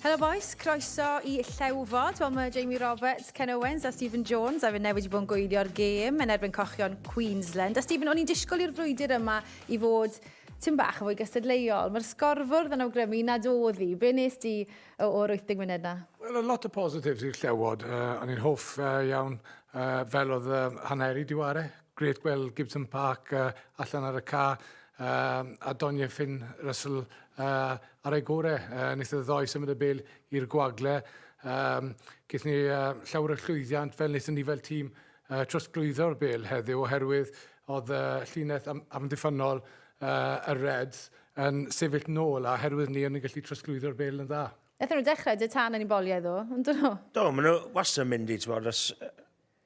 Helo boys, croeso i Llewfod. Wel, mae Jamie Roberts, Ken Owens a Stephen Jones a fe newid wedi bod yn gwylio'r gêm yn erbyn cochion Queensland. A Stephen, o'n i'n disgwyl i'r frwydr yma i fod tyn bach yn fwy gystadleuol. Mae'r sgorfwrdd yn awgrymu nad oedd hi. Be nes di O, o'r wyth deg munud 'na? Wel, o' lot o positives i'r Llewod. Uh, o'n i'n hoff uh, iawn uh, fel oedd uh, haneri diware. Gret gweld Gibson Park uh, allan ar y ca. Uh, a Donia Finn Russell uh, ar ei gore. Uh, nes y ddoi symud y bel i'r gwagle. Um, Gethon ni uh, llawer o llwyddiant fel nes ni fel tîm y trosglwyddo'r Bil heddiw oherwydd oedd y llinell amddiffynnol y Reds yn sefyll nôl a oherwydd ni o'n ni'n gallu trosglwyddo'r Bil yn dda. Wnaethon nhw dechrau dy tân yn unboliau ddo, yn dyn nhw? Do, maen nhw wastad yn mynd i, ti'n bod,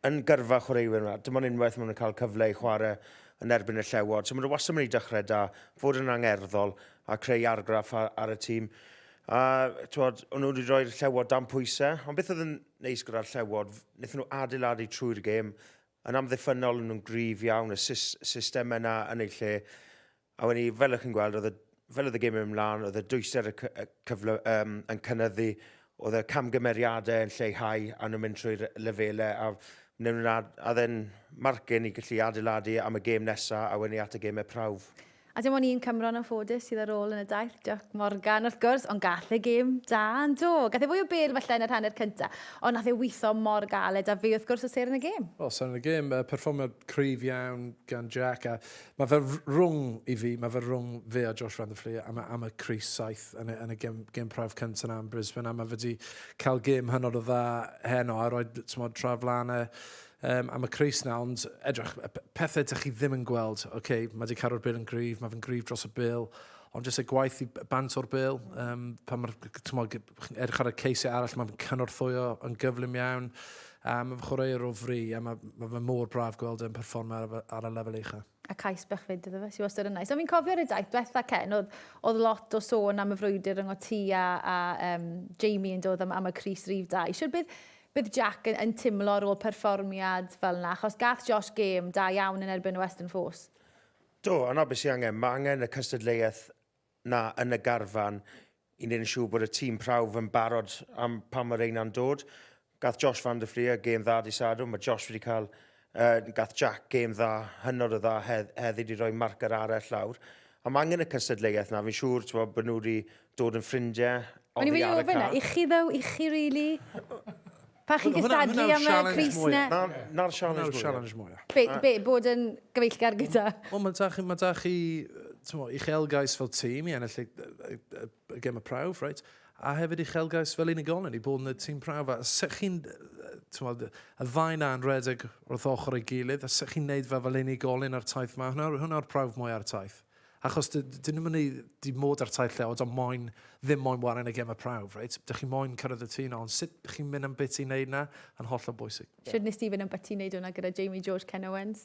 yn gyrfa chwaraewyr yma. Dim ond unwaith maen nhw'n cael cyfle i chwarae yn erbyn y llewod. So maen nhw wastad yn mynd i dechrau da, fod yn angerddol a creu argraff ar, ar y tîm. A, ti'n bod, o'n nhw wedi rhoi'r llewod dan pwysau. Ond beth oedd yn neis gyda'r llewod, Wnaethon nhw adeiladu trwy'r gêm. Yn amddiffynnol, o'n nhw'n gryf iawn, y sys, system yna yn eu lle. A wedyn ni, fel ych chi'n gweld, oedd y, fel oedd y gêm yn mynd mlaen, oedd y dwyster y, cy, y cyfle um, yn cynnyddu, oedd y camgymeriadau yn lleihau a nhw'n mynd trwy'r lefelau a wnawn nhw'n ad, a then marcyn i gallu adeiladu am y gêm nesaf a wedyn ni at y gemau prawf. A dim ond un Cymro yn anffodus sydd ar ôl yn y daith, Jac Morgan wrth gwrs, ond gall e gêm da yn do. Gath e fwy o bêl falle yn yr hanner cynta, ond nath e witho mor galed a fe wrth gwrs o ser yn y gêm. O ser yn y gêm, perfformiad cryf iawn gan Jac a ma fe rwng i fi, ma fe rwng fe a Josh van der Flier am y am y crys saith yn y yn y gem gem prawf cynta na yn Brisbane a ma fe di ca'l gêm hynod o dda heno a roid t'mod tra flan e um, am y crys na, ond edrych, pethau dych chi ddim yn gweld, oce, okay, mae wedi caro'r bil yn gryf, mae fe'n gryf dros y bil, ond jyst y gwaith i bant o'r bil, um, pan mae'r, edrych ar y ceisau arall, mae'n cynorthwyo yn gyflym iawn, a mae'n chwarae o fri, a mae, mae fe mor braf gweld yn performer ar, ar y lefel eicha. a cais bach fyd iddo fe, sydd wastad yn nais. Ond fi'n cofio'r y daith diwetha Ken, oedd, oedd lot o sôn am y frwydr rhwng o ti a, a um, Jamie yn dod am, am y Cris Rif 2. Siwr bydd, bydd Jack yn, yn timlo ar ôl perfformiad fel yna, achos gath Josh gêm da iawn yn erbyn y Western Force. Do, yna beth sy'n angen. Mae angen y cystadleuaeth 'na yn y garfan i wneud yn siŵr bod y tîm prawf yn barod am pan mae reina'n dod. Gath Josh van der Fleer gêm dda di Sadwrn, mae Josh wedi cael, uh, gath Jack gêm dda, hynod o dda hedd, heddi wedi rhoi marcar arall lawr. A mae angen y cystadleuaeth na, fi'n siŵr bod bod nhw wedi dod yn ffrindiau O'n i wedi ofyn e, i chi ddo, i chi rili? Really? Pa chi'n gystadlu am y Cris na? Na'r challenge mwyaf. Be, be, bod yn gyfeillgar gyda? Wel, mae da chi, mae da chi, tmo, uchelgais fel tîm i ennill y gem y prawf, right? A hefyd uchelgais fel unigolyn i bod yn y tîm prawf. A sech chi'n, tmo, y ddau na'n redeg wrth ochr ei gilydd, a sech chi'n neud fe fel unigolyn ar taith mae, hwnna'r hwnna prawf mwy ar taith. Achos dyn nhw'n mynd i di mod ar taith lleod ond moyn, ddim moyn waren y gemau prawf, reit? Dych chi moyn cyrraedd y tŷ na, ond sut chi'n mynd am beth ti'n neud na, yn holl o bwysig. Yeah. Sut nes ti fynd am beth ti'n neud hwnna gyda Jamie George Ken Owens?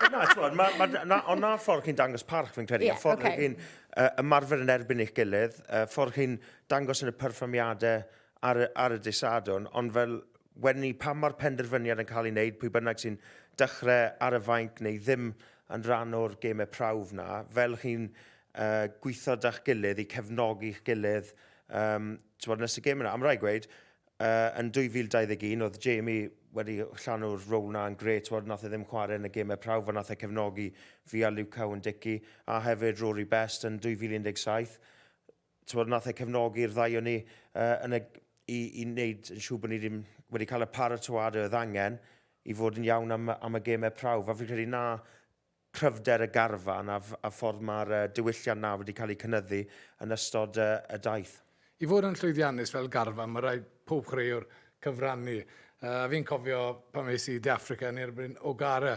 na, ti'n ma, ma, na, ond na ffordd chi'n dangos parch fi'n credu, yeah, a ffordd okay. chi'n uh, ymarfer yn erbyn eich gilydd, uh, ffordd chi'n dangos yn y perfformiadau ar, ar y disadwn, ond fel wedyn ni pa mor penderfyniad yn cael ei wneud, pwy bynnag sy'n dechrau ar y fainc neu ddim yn rhan o'r gemau prawf na, fel chi'n uh, gweithio da'ch gilydd i cefnogi'ch gilydd um, tywod, nes y gem yna. Am rai gweud, uh, yn 2021 oedd Jamie wedi llanw'r rôl na yn gret, tywod, nath e ddim chwarae yn y gemau prawf, a nath e cefnogi fi a Luke Cowan Dicky, a hefyd Rory Best yn 2017, tywed, nath e cefnogi'r ddau o'n ni uh, yn y, i, i wneud yn siŵr bod ni ddim wedi cael y paratoad oedd angen i fod yn iawn am, am y gemau prawf. A fi'n credu na cryfder y garfan a, a ffordd mae'r uh, diwylliant na wedi cael ei cynyddu yn ystod uh, y daith. I fod yn llwyddiannus fel garfan, mae rhaid pob chwaraewr cyfrannu. Uh, fi'n cofio pan mes i De Africa yn erbyn Ogara,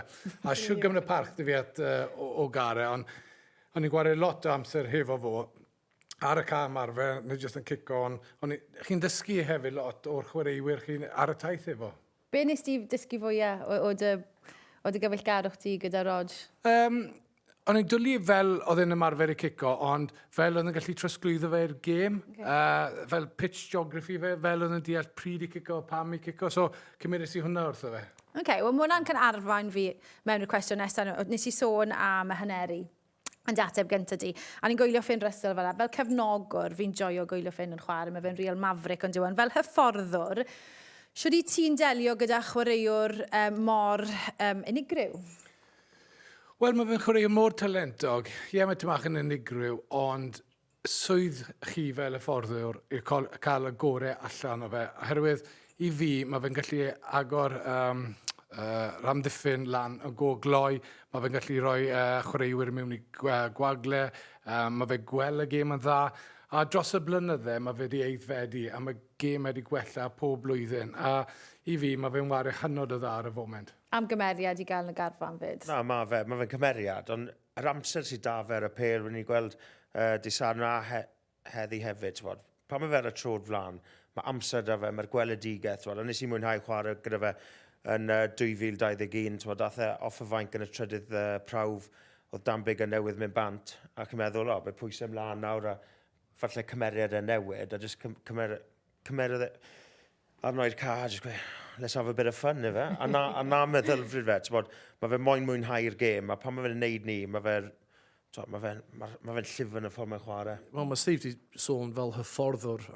a siwgam yn y parch dy fi at uh, Ogara, ond O'n i'n gwario lot o amser hefo fo ar y cae ymarfer neu jyst yn cico on. O'n i... Chi'n dysgu hefyd lot o'r chwaraewyr chi ar y taith efo. Be wnest ti dysgu fwya o o dy o dy gyfeillgarwch di gyda Rog? Yym, o'n i'n dwli fel o'dd e'n ymarfer i cico ond fel o'dd e'n gallu trosglwyddo fe i'r gêm. Oce. Yy fel pitch geography fe, fel o'dd e'n deall pryd i cico, pam i cico, so cymeres i hwnna wrtho fe. Ok, wel mae hwnna'n kind of arwain fi mewn i'r cwestiwn nesaf. Nes i sôn am y haneri yn dy ateb gyntaf di. A ni'n gwylio Finn Russell fel yna. Fel cefnogwr, fi'n joio gwylio Finn yn chwarae. Mae fe'n real maverick ond yw e'n fel hyfforddwr. Siwr i ti'n delio gyda chwaraewr um, mor um, unigryw? Wel, mae fe'n chwaraewr mor talentog. Ie, yeah, mae Tamach yn unigryw, ond swydd chi fel hyfforddwr yw cael y gorau allan o fe. Oherwydd i fi, mae fe'n gallu agor um, uh, ramddiffyn lan y go gloi, mae fe'n gallu rhoi uh, chwaraewyr mewn i gwagle, uh, mae fe gwell y gêm yn dda, a dros y blynydde mae fe wedi eiddfedu a mae gêm wedi gwella pob blwyddyn. A i fi, mae fe'n wario hynod o dda ar y foment. Am gymeriad i gael yn y garfan fyd? Na, mae fe, mae fe'n cymeriad, ond yr amser sydd da fe ar y pêl, rydyn ni'n gweld uh, di Sarn a he, heddi hefyd, ti'n bod. Pan mae fe ar y trod flan, mae amser da fe, mae'r gweledigaeth, ti'n bod. A nes i mwynhau chwarae gyda fe yn uh, 2021, ti'n bod, dath e off y fainc yn y trydydd uh, prawf, oedd Dan Big yn newydd mynd bant, ac yn meddwl, o, fe pwysau ymlaen nawr, a falle cymeriad e newid, a jyst cymer, cymer, e, arnoi'r car, just gweud, let's have a bit of fun, efe. A na, a na meddylfryd fe, ti'n bod, mae fe moyn mwynhau'r gêm, a pan mae fe'n neud ni, mae fe, mae fe'n ma, ma fe llif yn y ffordd mae'n chwarae. Wel, mae Steve di sôn fel hyfforddwr,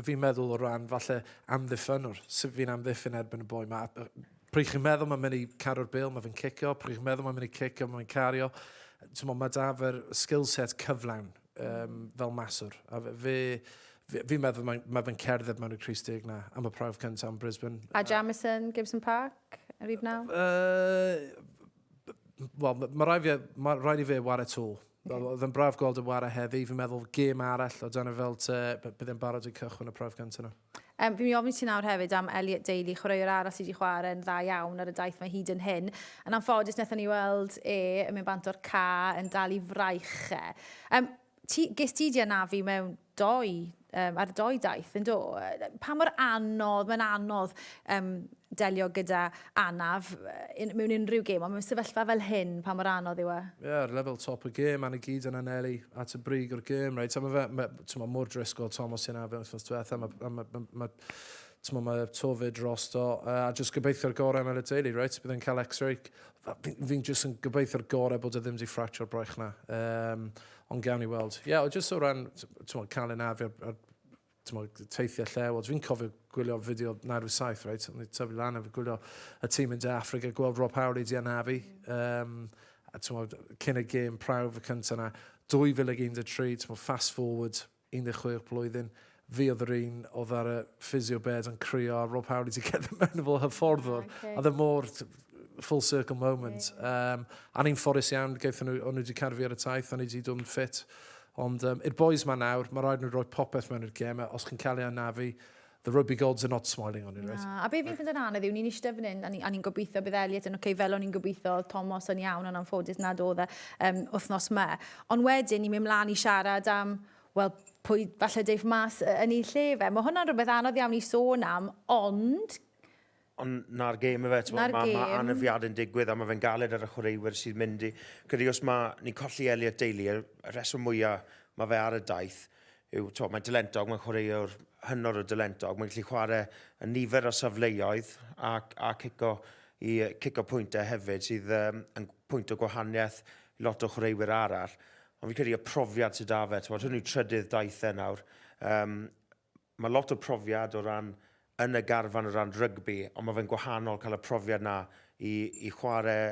fi'n meddwl o ran falle amddiffynwr, sut fi'n amddiffyn erbyn y boi ma. Pryd chi'n meddwl mae'n mynd i caru'r bel, mae fe'n cicio, pryd chi'n meddwl mae'n mynd i cicio, mae fe'n cario. Mae da fe'r skill set cyflawn, um, fel maswr. A fe, fi'n meddwl mae, mae fe'n cerdded mewn i'r Cris Deg na am y prawf cyntaf yn Brisbane. A Jamison, Gibson Park, yr un naw? Uh, Wel, mae rhaid, fi, ma rhaid i fe war y tŵl. Okay. Oedd yn braf gweld y war a heddi, fi'n meddwl gêm arall o dan y fel te, bydd e'n barod i cychwyn y prawf cyntaf nhw. Fi'n mynd i ofyn i ti nawr hefyd am Elliot Daly, chwaraewr arall sydd wedi chwarae'n dda iawn ar y daith mae hyd yn hyn. Yn anffodus, wnaethon ni weld e yn mynd bant o'r ca yn dal i fraich e. Um, ti, ges ti di anafu mewn doi, um, ar doi daith, yn do? Pa mor anodd, mae'n anodd um, delio gyda anaf mewn unrhyw gêm, ond mewn sefyllfa fel hyn, pa mor anodd yw e? Ie, yeah, ar lefel top y gêm, Anna gyd yn anelu at y brig o'r gêm, reit? A mae fe, ma, ma mor drisgol, Tom, os ti'n afion wrthnos diwetha, mae, ma, ma, ma, ma, ma tofyd dros do, a jyst gobeithio'r gorau am Elid Daly, reit? Bydd yn cael x-ray. Fi'n fi jyst yn gobeithio'r gorau bod e ddim wedi ffractio'r braich na. Um, ond gawn ni weld. Ie, yeah, o jyst o ran, ti'n cael ei nafi ar, ar t'mod, teithio lle, wel, dwi'n cofio gwylio fideo 97, reit? O'n i tyfu lan efo gwylio y tîm yn De Affrica, gweld Rob Howley di anafu, um, a t'mod, cyn y gêm prawf y cyntaf yna, 2013, t'mod, fast forward, 16 blwyddyn, fi oedd yr un oedd ar y physio bed yn crio, a Rob Howley di cerdded mewn fel hyfforddwr, yeah, okay. a ddim mor full circle moment. Yeah. Um, a ni'n fforus iawn, gaethon nhw, o'n nhw wedi carfu ar y taith, o'n nhw wedi dod yn ffit Ond um, i'r boys ma nawr, mae rhaid nhw roi popeth mewn i'r gem, os chi'n cael ei anafu, the rugby gods are not smiling on you, right? Na, a be fi'n ffynd yn anodd yw, ni'n eistedd fan hyn, a ni'n ni gobeithio bydd Elliot yn oce, okay, fel o'n i'n gobeithio, Thomas yn iawn, ond anffodus nad oedd e um, wythnos me. Ond wedyn, ni'n mynd mlaen i siarad am, wel, pwy falle deiff mas yn ei lle fe. Mae hwnna'n rhywbeth anodd iawn i sôn am, ond Ond na'r gêm efe, ti'n gwybod, mae ma anafiad yn digwydd a mae fe'n galed ar y chwaraewyr sydd mynd i... Gyda os mae ni'n colli Elliot Daly, y rheswm mwyaf mae fe ar y daith yw, to, mae'n dylentog, mae'n chwaraewr hynod o dylentog, mae'n gallu chwarae yn nifer o safleoedd a, a cico i cico pwyntau hefyd sydd um, yn pwynt o gwahaniaeth lot o chwaraewyr arall. Ond fi'n credu y profiad sydd da fe, ti'n gwybod, hwn yw trydydd daith e nawr. Um, Mae lot o profiad o ran yn y garfan o ran rygbi, ond mae fe'n gwahanol cael y profiad 'na i i chwarae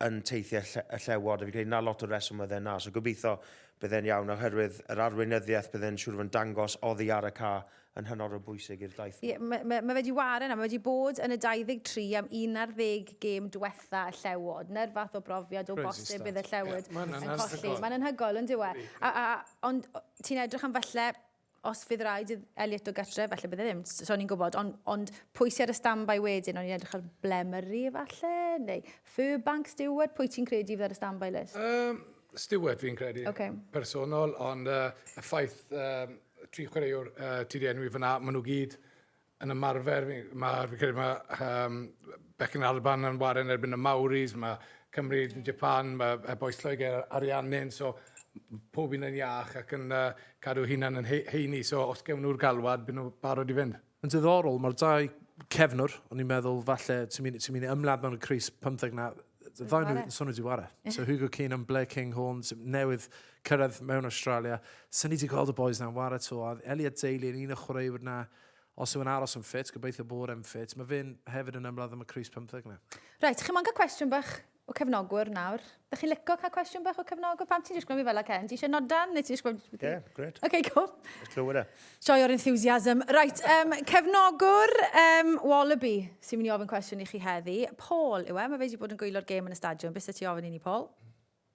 yn teithiau y Llewod, a fi'n credu 'na lot o'r reswm oedd e 'na. So gobeithio bydd e'n iawn, oherwydd yr arweinyddiaeth bydd e'n siŵr o fod yn dangos oddi ar y ca' yn hynod o bwysig i'r daith 'ma. Ie, ma' ma' ma' fe 'di ware 'na, ma' fe 'di bod yn y 23 am un ar ddeg gêm dwetha y Llewod. 'Na'r fath o brofiad o bosib bydd y Llewod yn colli. Ma'n anhygoel, yndyw e? A a a ond ti'n edrych am falle os fydd rhaid i Elliot o gartre, falle bydde ddim, so o'n i'n gwybod, ond, ond pwy sy'n ar y stand-by wedyn, o'n i'n edrych ar Blemery falle, neu Furbank, Stewart, pwy ti'n credu fydd ar y stand-by list? Um, Stewart fi'n credu, okay. personol, ond uh, y ffaith um, tri chwaraewr uh, ti di enwi fyna, maen nhw gyd Yn ymarfer, mae, fi'n credu mae um, Becyn Alban yn waren erbyn y Mauris, mae Cymru, yeah. Japan, mae y boes Lloegr, Ariannin, so pob un yn iach ac yn uh, cadw hunan yn heini, so os gewn nhw'r galwad, byd nhw barod i fynd. Yn diddorol, mae'r dau cefnwr, o'n i'n meddwl falle, ti'n mynd, ti mynd i ymladd mewn y Cris 15 na, ddau nhw yn swnio di ware. So Hugo Keane yn Blair King Horn, newydd cyrraedd mewn Australia. Sa'n ni wedi gweld y boys na'n ware to, a Elliot Daly yn un o chwaraewyr na, Os yw'n aros yn ffit, gobeithio bod e'n ffit. Mae fe'n hefyd yn ymladd am y crys pymtheg na. Reit, chi'n mo'n cael cwestiwn bach o cefnogwr nawr. Ydych chi'n licio cael cwestiwn bach o cefnogwr? Pam ti'n disgwyl mi fel a Ken? Ti eisiau nodan neu ti eisiau gwybod beth i? Yeah, great. OK, cool. Let's go with it. Joio'r enthusiasm. Right, um, cefnogwr um, Wallaby sy'n mynd i ofyn cwestiwn i chi heddi. Paul yw e, mae fe wedi bod yn gwylio'r gêm yn y stadiwm. Beth sydd ti ofyn i ni, Paul?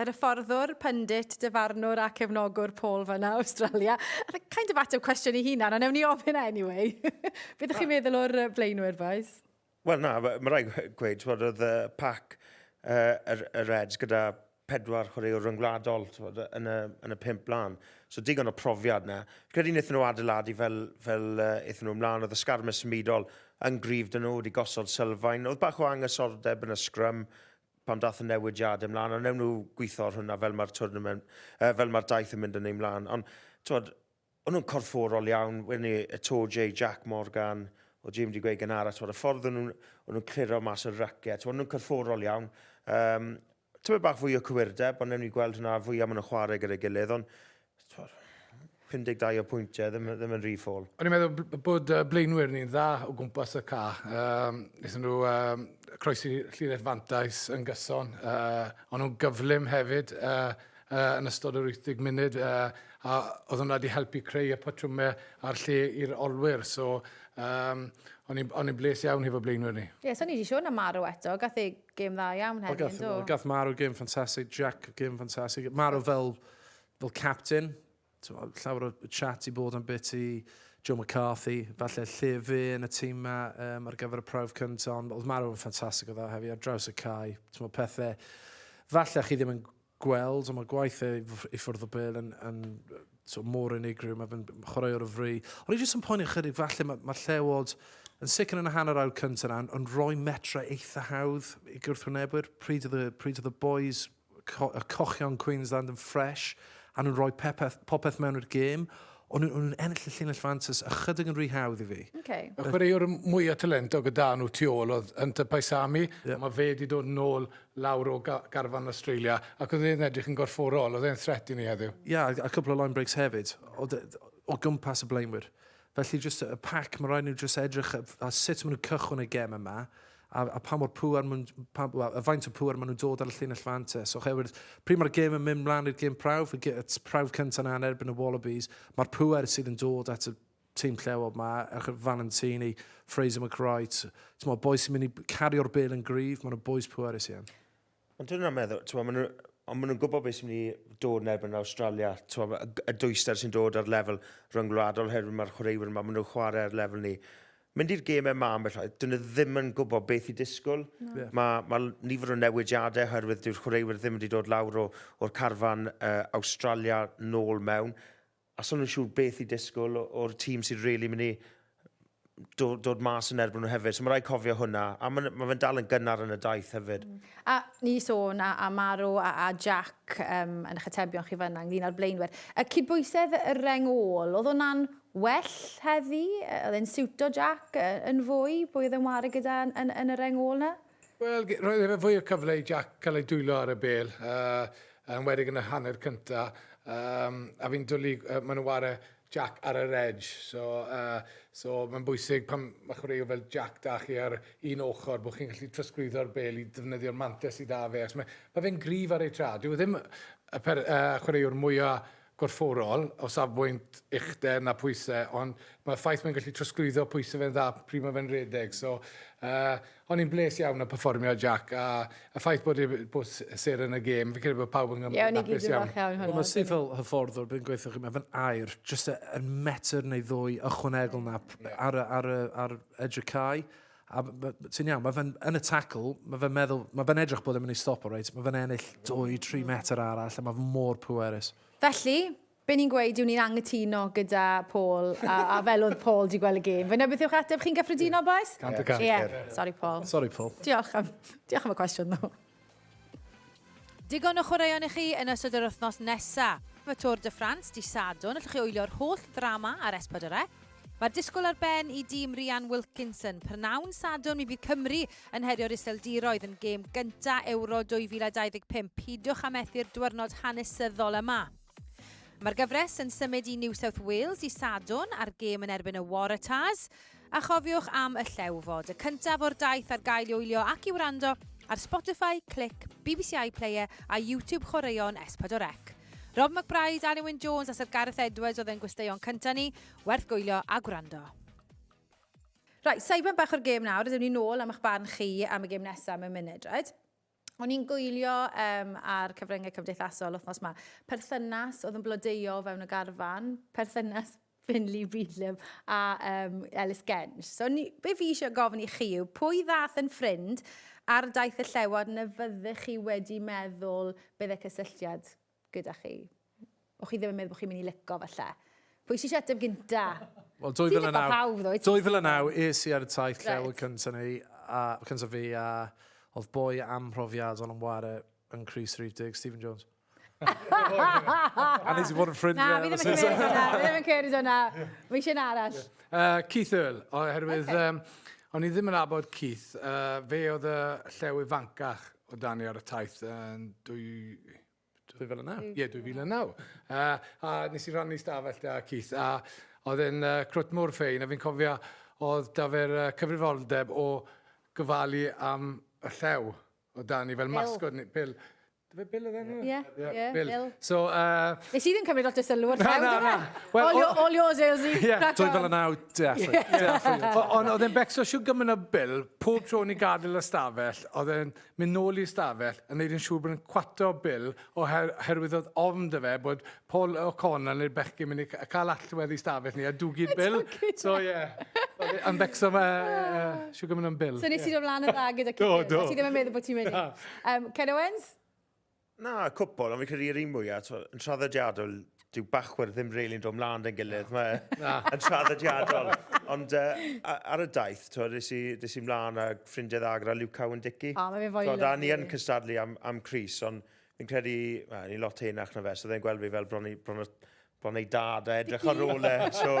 Yr hyfforddwr, pyndit, dyfarnwr a cefnogwr Paul fanna, Awstralia. Kind of ateb cwestiwn i hunan, ond ewn ni ofyn e anyway. Beth ydych chi'n meddwl o'r blaenwyr, boys? Wel na, mae rhaid gweud, twod, oedd y pac uh, yr, y Reds gyda pedwar chwaraewr ryngwladol twod, yn, y, yn y pimp blaen. So digon o profiad na. Credu wnaethon nhw adeiladu fel, fel uh, eithon nhw ymlaen, oedd y sgarmes symudol yn gryf dyn nhw wedi gosod sylfaen. Oedd bach o angysordeb yn y sgrym, pan daeth y newidiadau mlaen, a newn nhw gweithio ar hwnna fel mae'r twrnament, uh, fel mae'r daith yn mynd yn ei mlaen. Ond, twod, o'n nhw'n corfforol iawn, wedyn ni, y Tôr J, Jack Morgan, o Jim wedi gweud gynhara, twod, y ffordd o'n nhw'n nhw cliro mas y racet, twod, o'n nhw'n corfforol iawn. Um, Tyma bach fwy o cywirdeb, ond newn ni gweld hwnna fwy am yn y chwarae gyda'i gilydd, ond T'mod, 52 o pwyntiau, ddim, ddim yn rhy ffôl. O'n i'n meddwl bod blaenwyr ni'n dda o gwmpas y ca. Um, Nethon nhw um, croesi llinell fantais yn gyson. Uh, o'n nhw'n gyflym hefyd uh, uh, yn ystod yr 80 munud. Uh, a oedd hwnna wedi helpu creu y patrwmau a'r lle i'r olwyr. So, um, o'n i'n bles iawn hefo blaenwyr ni. Ie, yeah, so ni wedi siôn am Marw eto. Gath ei Gêm dda iawn heddi, yn do? Gath marw gêm ffantasig, Jack gêm ffantasig. Marw fel, fel captain. Llawer o chat i bod am bit i Joe McCarthy, falle lle fe yn y tîm ma um, ar gyfer y prawf cyntaf, ond oedd marw yn ffantasig o dda hefyd, ar draws y cae, ti'n pethau, falle chi ddim yn gweld, ond mae gwaith e i ffwrdd o bel yn, yn so, mor unigryw, mae fe'n chwarae o'r fri. Ond i jyst yn poeni chydig, falle mae, mae llewod yn sicr yn y hanner awr cyntaf yna, yn, yn rhoi metre eitha hawdd i gwrthwynebwyr, pryd oedd y, pryd oedd y boys, co, y cochion Queensland yn ffres, a nhw'n rhoi pepeth, popeth mewn i'r gêm, ond nhw'n ennill y llinell fantus ychydig yn rhy hawdd i fi. Okay. Y chwaraewr mwyaf talentog y dan nhw tu ôl oedd Hunter Paisami, yeah. mae fe wedi dod yn ôl lawr o garfan Awstralia ac oedd e'n edrych yn gorfforol, oedd e'n threat i ni heddiw? Ie, a cwpl o line breaks hefyd o gwmpas y blaenwyr. Felly jyst y pack, mae'n rhaid nhw jyst edrych a sut maen nhw'n cychwyn y gem yma, a, a pa mor pŵer maen nhw'n... y faint o pŵer maen nhw'n dod ar y llinell fantes. So, oherwydd, pryd mae'r gem yn mynd mlaen i'r gem prawf, y prawf cyntaf yna yn erbyn y Wallabies, mae'r pŵer sydd yn dod at y Team Llewod 'ma, ewch at Valentini, Fraser McWright, t'mod bois sy'n mynd i cario'r bel yn gryf, maen nhw'n bois pwerus iawn. Ond dyn nhw'n meddwl, t'mod, maen nhw, ond maen nhw'n gwybod beth sy'n mynd i dod yn erbyn Australia, t'mod, y, y dwyster sy'n dod ar lefel ryngwladol oherwydd mae'r chwaraewyr yma, maen nhw'n chwarae ar lefel ni mynd i'r gêm yma am beth dyn nhw ddim yn gwybod beth i disgwyl. No. Yeah. Mae, ma nifer o newidiadau oherwydd dyw'r chwaraewyr ddim wedi dod lawr o, o'r carfan uh, Australia nôl mewn. a so ni'n siŵr beth i disgwyl o'r tîm sydd really mynd i dod, dod mas yn erbyn nhw hefyd. So mae rhaid cofio hwnna. A mae, mae fe'n dal yn gynnar yn y daith hefyd. Mm. A ni sôn a, a Marw a, a Jack um, yn eich atebion chi fyna ynglyn â'r blaenwyr. Y cydbwysedd y reng ôl, oedd hwnna'n well heddi? Oedd e'n siwto Jack yn fwy? Bwy oedd e'n wario gyda yn, yn, yn y reng ôl na? Wel, roedd efe fwy o cyfle i Jack cael ei dwylo ar y bel, uh, yn wedig yn y hanner cynta. Um, a fi'n dwlu, uh, maen nhw ware Jack ar yr edge, so, uh, so mae'n bwysig pan mae chwaraewr fel Jack da chi ar un ochr bod chi'n gallu trosglwyddo'r bel i ddefnyddio'r mantes sydd da fe, mae, mae fe'n grif ar ei tra. Dyw e ddim y per, uh, chwaraewr mwyaf gorfforol o safbwynt uchder na phwyse ond mae'r ffaith mae'n gallu trosglwyddo pwyse fe'n dda pryd mae fe'n redeg so yy o'n i'n bles iawn o perfformio Jac a y ffaith bod e bod sêr yn y gêm fi'n credu bod pawb yn Ie, o'n i gyd yn falch iawn o hwnna. Mae Sir fel hyfforddwr bydd yn gweithio chi mae fe'n air jyst y, y metr neu ddwy ychwanegol na ar y, ar y, ar edrych cae A ti'n iawn, mae fe'n yn y tackle, mae fe'n meddwl, mae fe'n edrych bod yn mynd i stop o reit, mae fe'n ennill 2-3 metr arall, a mae fe mor pwerus. Felly, be ni'n gweud yw ni'n angytuno gyda Paul, a, a fel oedd Paul di gweld y gêm. Fe na beth yw'ch ateb, chi'n gyffredinol, boes? Cant y cant. Ie, sorry Paul. Sorry Paul. Diolch am, diolch am y cwestiwn, ddo. Digon o chwaraeon i chi yn ystod yr wythnos nesaf. Y Tour de France, dy Sadwrn, allwch chi wylio'r holl ddrama ar S4C. Mae'r disgwyl ar ben i dîm Rhian Wilkinson. Prynhawn Sadwrn, mi fydd Cymru yn herio'r Iseldiroedd yn gêm gyntaf Ewro 2025. Peidiwch â methu'r diwrnod hanesyddol yma. Mae'r gyfres yn symud i New South Wales i Sadwn ar gêm yn erbyn y Waratahs, a chofiwch am y llew fod y cyntaf o'r daith ar gael i wylio ac i wrando ar Spotify, Click, BBC iPlayer a YouTube Chwaraeon S4C. Rob McBride, Alun Wyn Jones a Sir Gareth Edwards oedd yn gwesteion cyntaf ni, werth gwylio a gwrando. Right, saibon bach o'r gêm nawr, ydym ni'n ôl am eich barn chi am y gêm nesaf mewn munud, right? O'n i'n gwylio um, ar cyfryngau cymdeithasol wythnos yma, perthynas oedd yn blodeuo fewn y garfan, perthynas Finley Beedlam a um, Ellis Genge. So, ni, be fi eisiau gofyn i chi yw, pwy ddath yn ffrind ar daith y llewod na fyddech chi wedi meddwl bydde cysylltiad gyda chi. O'ch chi ddim yn meddwl bod chi'n mynd i lico falle. Pwy sy'n siarad gynta? Wel, 2009, 2009 es i ar y taith llew y cyntaf ni, a, cyntaf fi, a oedd boi amhrofiadol yn ware yn Cris Rhif Dig, Stephen Jones. a nes i fod yn ffrind. Na, fi ddim yn cymryd hwnna, fi ddim yn cymryd hwnna. Fi eisiau arall. Uh, Keith Earl, oherwydd okay. um, o'n i ddim yn abod Keith. Uh, fe oedd y llew ifancach O dan ni ar y taith yn dwy... 2009? Ie, 2009. Uh, a nes i rannu stafell da Keith, a oedd e'n uh, crwt mor ffein, a fi'n cofio oedd da fe'r uh, cyfrifoldeb o gyfalu am y llew o dan ni fel masgod ni, Bill. Dyfe Bill oedd enw? Ie, ie, Bill. So, uh... Nes i ddim cymryd lot o sylw o'r llew, dyma. All, your, all yours, Ailsey. Yeah. 2009, definitely. Ond oedd e'n becso siw gymryd o Bill, pob tro ni gadael y stafell, Oedd e'n mynd nôl i'r stafell yn neud yn siŵr bod yn cwato Bill oher- oherwydd oedd ofn 'da fe bod Paul O'Connor neu'r bechgyn mynd i ca- cael allwedd i stafell ni a dwgu Bill. So ie. Oedd e yn becso ma' yy Sugarman am Bill. So nes ti dod mlan yn dda gyda cipio. Do, do. Ti ddim yn meddwl bod ti'n mynd i. Na. Yym, Ken Owens? Na, cwpl, ond fi'n credu yr un mwyaf, twa, yn traddodiadol, dyw bachwyr ddim rili'n dod mlaen dyn gilydd, mae yn traddodiadol. Ond uh, ar y daith, twa, nes i, nes i mlaen a ffrindiau dda gyda Luke Cowan Dicky. A, mae fe fwy lyflu. Da, ni yn cystadlu am, am Cris, ond fi'n credu, well, ni'n lot henach na fe, so ddau'n gweld fi fel bron i, bron i, bron ei dad a edrych ar ôl e. So,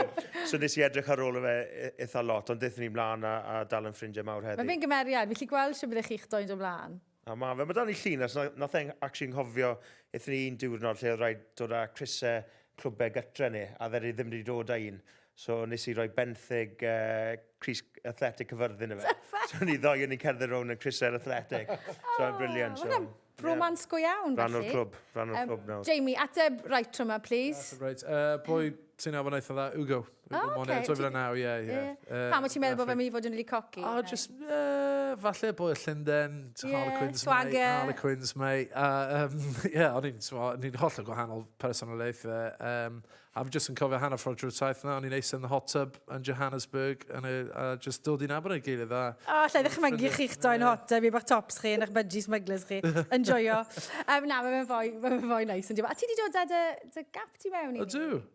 so nes i edrych ar ôl e eitha lot, ond ddethon ni mlaen a, a dal yn ffrindiau mawr heddi. Mae fe'n gymeriad, fi'n lli gweld sy'n byddech chi'ch doi'n dod mlaen. A ma fe. Mae dan ni llunes na, nath e actually nghofio ethon ni un diwrnod lle oedd rhaid dod â crysau clwbau gytre ni, a dde ddim wedi dod â un. So nes i roi benthyg uh, crys athletic cyfyrddin i fe. so ni ddoi o'n i'n cerdded rownd yn crysau'r athletic. so oh, briliant. So, Mae'n bromans yeah. go iawn. Rhan o'r clwb, rhan o'r um, clwb nawr. Jamie, ateb right rhywma, please. Ateb right. Uh, pwy ti'n afon eitha dda? Ugo. O, oce. 2009, ie, ie. Pam wyt ti'n meddwl bod fe'n mynd i fod yn rili coci? O, just, uh, falle bod y Llynden, yeah, Harlequins, swagger. mate, Harlequins, mate. A, um, yeah, o'n i'n, o'n i'n holl o gwahanol personolaeth. Um, a fi just yn cofio hanner ffordd drwy'r taith yna, o'n i'n eisiau yn y hot tub yn Johannesburg, yn y, a just dod i'n abod ei gilydd. A, o, lle ddech chi'n mynd chi'ch doi'n hot tub, i bach tops chi, yn eich budgie smugglers chi. Enjoyo. um, na, mae'n fwy, mae'n fwy nice. A ti di dod â dy, dy gap ti mewn i? Ydw.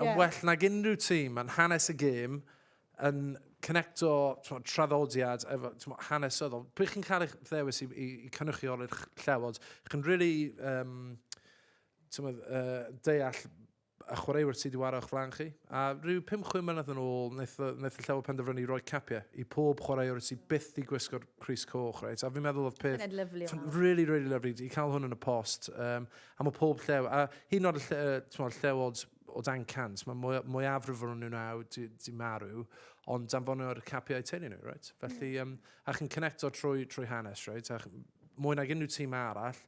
Yn well nag unrhyw tîm, mae'n hanes y gêm yn cynecto tmod, traddodiad efo tmod, hanesyddol. Pryd chi'n cael eich ddewis i, i, i cynrychioli'r llewod, chi'n really um, tmod, uh, deall y chwaraewyr sydd wedi wario o'ch flan chi. A rhyw 5-6 mlynedd yn ôl, wnaeth, wnaeth y llewod penderfynu roi capiau i pob chwaraewr sydd byth i gwisgo'r Cris Coch. Right? A fi'n meddwl oedd peth... Really, really lovely. I cael hwn yn y post. Um, A mae pob llew, a hyn o'r lle, tmod, llewod o dan cant, mae mwy, mwyafrif o'n nhw'n awr di, di marw, ond danfonio'r capiau teulu nhw, right? Felly, mm. um, a chi'n connecto trwy, trwy hanes, right? A mwy nag unrhyw tîm arall,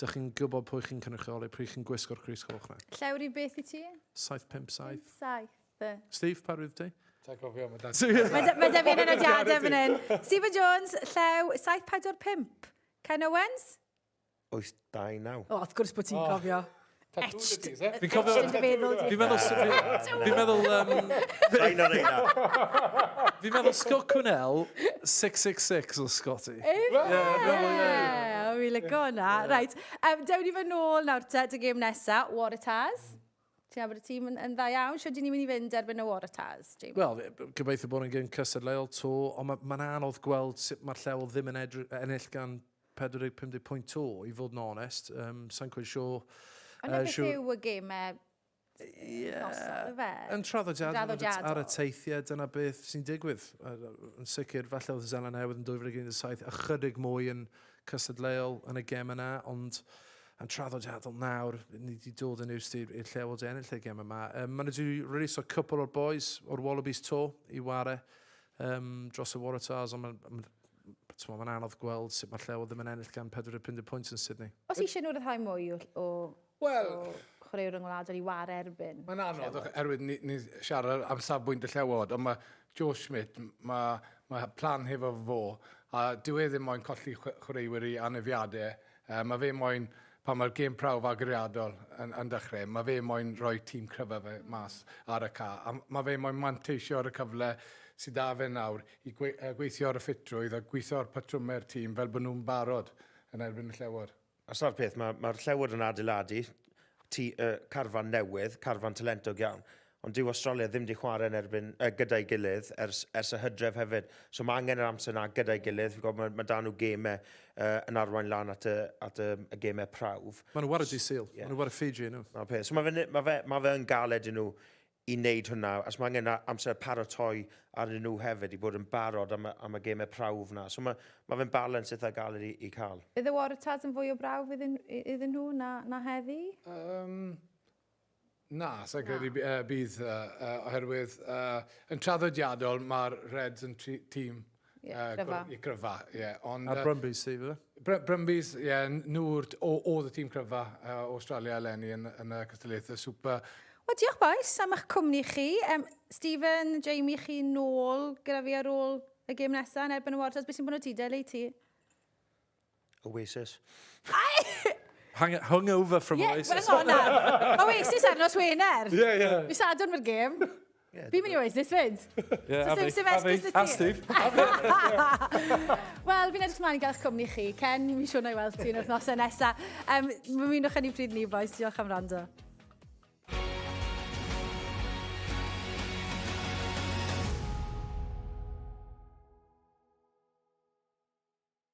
dych chi'n gwybod pwy chi'n cynrychioli, pwy chi'n gwisgo'r Cris Coch na. Llew rhyw beth i ti? 757. 7. Steve, pa rwyf ti? Ta'n cofio, mae dan... Mae da fi'n enodiadau fan hyn. Stephen Jones, llew 745. Ken Owens? 89. O, wrth gwrs bod ti'n oh. cofio. Etched. Fi'n cofio... Fi'n meddwl... Fi'n meddwl... Fi'n meddwl... Fi'n meddwl Scott Cwnell, 666 o Scotty. Efe! Yeah, Fi'n lygo hwnna. Right. Um, dewn ni fy nôl nawr te, dy gêm nesa, Waratahs. Ti'n abod y tîm yn, yn dda iawn. Sio dyn ni'n mynd i fynd erbyn y Waratahs, James? Wel, gobeithio bod yn gyn cystadleuol to, ond mae'n ma anodd gweld sut mae'r lleol ddim yn ennill gan 45 deg pwynt to, i fod yn onest. Um, Sa'n cwyd sio... Ond uh, beth yw y gemau yeah. fe? Yn traddodiadol, traddodiadol. ar y teithiau, dyna beth sy'n digwydd. Yn sicr, falle oedd Zeland Newydd yn 2017 ychydig mwy yn cystadleuol yn y gem yna, ond yn traddodiadol nawr, ni wedi dod yn ewst i'r lle fod ennill y gem yma. Um, Mae'n wedi rhywbeth o'r cwpl o'r boys o'r Wallabies to i ware um, dros y Waratahs, ond mae'n T'mo, mae'n anodd gweld sut mae Llew ddim yn ennill gan 45 pwynt yn Sydney. Os eisiau nhw ryddhau mwy o, o, well, o chwaraewr ryngwladol i war erbyn... Mae'n anodd, oherwydd ni, ni siarad am safbwynt y Llewod, ond mae Joe Schmidt, mae, mae plan hefo fo, a dyw e ddim moyn colli chwaraewyr i anefiadau. Uh, mae fe moyn, pan mae'r gêm prawf agoriadol yn, yn dechrau, mae fe moyn rhoi tîm cryfa fe mas ar y ca, a mae fe moyn manteisio ar y cyfle sydd da fe nawr i gweithio ar y ffitrwydd a gweithio ar patrymau'r tîm fel bod nhw'n barod yn erbyn y Llewod. A sa'r peth, mae'r ma Llewod yn adeiladu ti, uh, carfan newydd, carfan talentog iawn, ond dyw Australia ddim wedi chwarae yn erbyn, uh, gyda'i gilydd ers, ers y hydref hefyd. So mae angen yr amser yna gyda'i gilydd. Fi'n gwybod mae, mae dan nhw gemau uh, yn arwain lan at y, at y, y gemau prawf. Mae nhw war y dydd Sul, yeah. mae nhw war y Fiji nhw. Mae peth. So mae fe, ma fe, ma fe yn galed i nhw i wneud hwnna, os mae angen amser paratoi arnyn nhw hefyd i bod yn barod am, am y gemau prawf na. So mae, mae fe'n balans eitha galed i, i cael. Bydd y Waratahs yn fwy o brawf iddyn, iddyn nhw na, na heddi? Um, na, sa'n credu uh, bydd, uh, uh, oherwydd uh, yn traddodiadol mae'r Reds yn tîm Ie, uh, gryfa. Ie, gryfa, ie. Yeah. Ond, Ar Brumbies, ti, fydde? Br Brumbies, ie, yeah, nhw'r, oedd y tîm cryfa uh, Australia eleni yn, yn y Cystadlaethau Super. Wel, diolch boes am eich cwmni chi. Um, Stephen, Jamie, chi nôl gyda fi ar ôl y gêm nesaf yn erbyn y Warriors. Beth sy'n bod o ti, Deli, ti? Oasis. Hung, hungover from yeah, Oasis. Hang on nawr. Oasis ar nos Wener. Ie, ie. Mi sadwn mae'r gêm. Yeah, Fi'n mynd i Oasis fyd. Ie, a fi. A fi. A Steve. Wel, fi'n edrych mlaen i gael eich cwmni chi. Ken, mi siwn o'i weld ti'n wythnos yn nesaf. Um, Mwynwch yn ei bryd ni, boys. Diolch am rando.